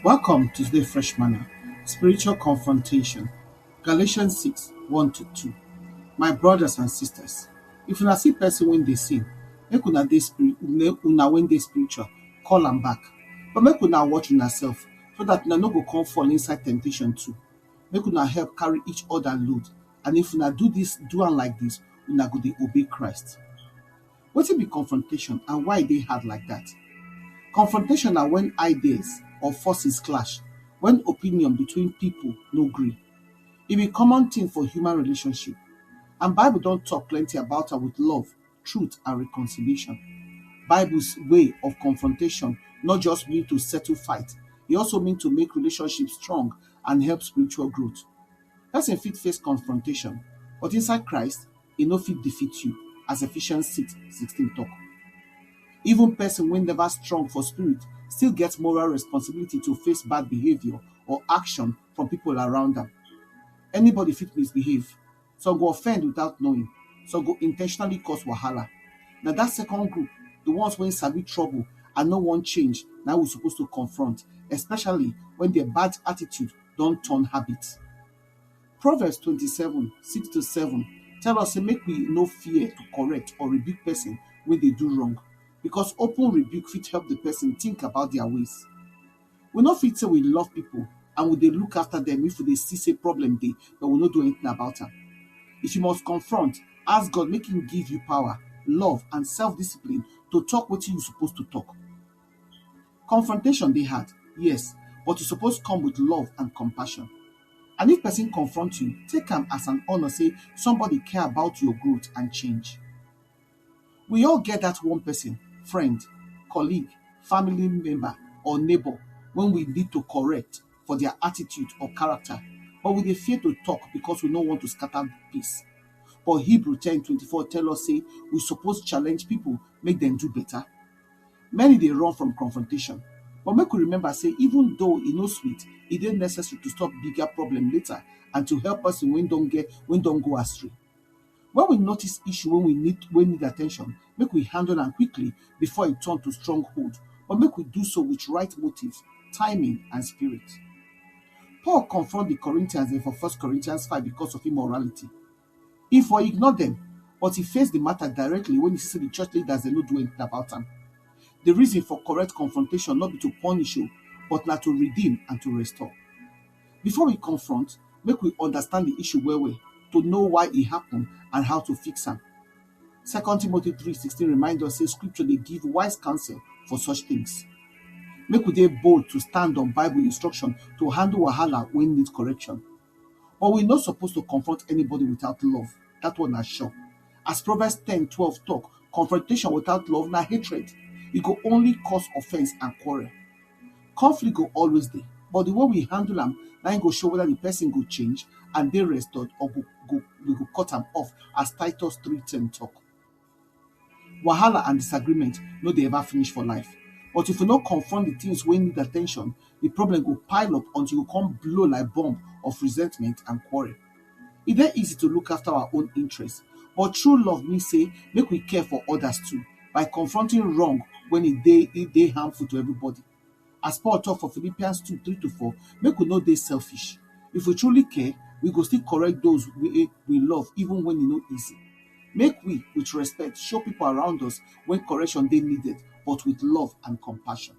Welcome to today's Fresh Manna Spiritual Confrontation. Galatians 6 1 to 2. My brothers and sisters, if una see person when they sin, make una dey spirit, una when they spiritual, call am back. But make una watch on yourself so that una no go come fall inside temptation too. Make una help carry each other load. And if una do this, do am like this, una go dey obey Christ. Wetin be confrontation and why e dey hard like dat? Confrontation na wen ideas or forces clash, wen opinion between pipu no gree. E be common tin for human relationship and Bible don tok plenty about am wit love, truth and reconciliation. Bible's way of confrontation no just mean to settle fight, e also mean to make relationship strong and help spiritual growth. Pesin fit face confrontation but inside Christ, e no fit defeat you, as Ephesians six sixteen tok. Even pesin wey neva strong for spirit still get moral responsibility to face bad behaviour or action from pipo around am. Anybody fit misbehave, some go offend without knowing, some go in ten tionally cause wahala. Na dat second group, di ones wey sabi trouble and no wan change, na im we suppose to confront, especially wen dia bad attitude don turn habit. Proverbs twenty seven six to seven tell us say make we no fear to correct or rebuke person wey dey do wrong because open rebuke fit help the person think about their ways. We no fit say we love people and we dey look after them if we dey see say problem dey but we no do anything about am. If you must confront, ask God make him give you power, love and self-discipline to talk wetin you suppose to talk. Confrontation dey hard, yes but e suppose come with love and compassion and if person confront you, take am as an honour sey somebody care about your growth and change. We all get dat one person, friend, colleague, family member or neighbour wey we need to correct for dia attitude or character but we dey fear to talk because we no want to scatter peace but Hebrew ten twenty four tell us sey we suppose challenge pipu make dem do better. Many dey run from confrontation but make we remember sey even though e no sweet, e dey necessary to stop bigger problem later and to help person wey don get wey don go astray. When we notice issue wey we need wey need at ten tion, make we handle am quickly before e turn to strong hold but make we do so with right motive, timing and spirit. Paul confront de Corinthians dem for first Corinthians five because of immorality. E for ignore dem but e face di mata directly wen e see say di church leaders dem no do anytin about am. Di reason for correct confrontation no be to punish o but na to redeem and to restore. Before we confront, make we understand di issue well-well to know why e happun and how to fix am. Second Timothy three sixteen remind us say scripture dey give wise counsel for such tins. Make we dey bold to stand on Bible instruction to handle wahala wey need correction. But we no suppose to confront anybody without love. That one na sure. As Proverbs 10 12 talk, confrontation without love na hatred. E go only cause offense and quarrel. Conflict go always dey, but the way we handle am na im go show whether the person go change and dey restored or go, go, we go cut am off as Titus 3:10 talk. Wahala and disagreement no dey ever finish for life but if you no confront di things wey need attention, di problem go pile up until you come blow like bomb of resentment and quarrel. E dey easy to look after our own interest but true love mean sey make we care for others too by confronting wrong when e dey e dey harmful to everybody. As Paul talk for Philippians 2, 3 to 4, make we no dey selfish. If we truly care, we go still correct those we, we love even when e no easy. Make we, with respect, show people around us when correction dey needed, but with love and compassion.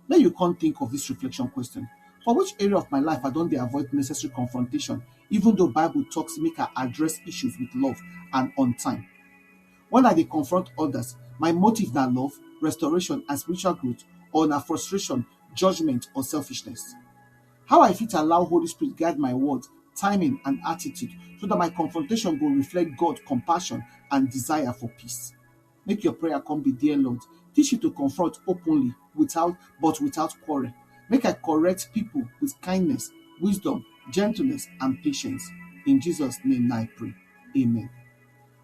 Make you come think of this reflection question. For which area of my life I don dey avoid necessary confrontation, even though Bible talks make I address issues with love and on time? Wen I dey confront odas, my motive na love, restoration and spiritual growth or na frustration, judgement or selfishness? How I fit allow Holy Spirit guide my words, timing and attitude so dat my confrontation go reflect God compassion and desire for peace? Make your prayer come be, Dear Lord, teach me to confront openly without but without quarrel. Make I correct pipo with kindness, wisdom, gentleness and patience. In Jesus name na I pray, Amen.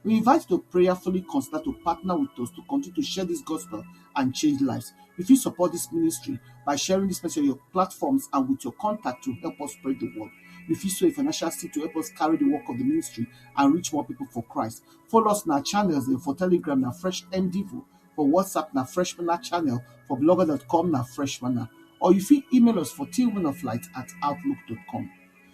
We invite you to prayerfully consider to partner with us to continue to share this gospel and change lives. You fit support this ministry by sharing this message on your platforms and with your contact to help us spread the word. You fit sow a financial seed to help us carry the work of the ministry and reach more people for Christ. Follow us on our channels and for Telegram na Fresh MDivo, for WhatsApp na Fresh Manna channel, for blogger.com na Fresh Manna. Or you fit email us for tillmanoflight at outlook.com.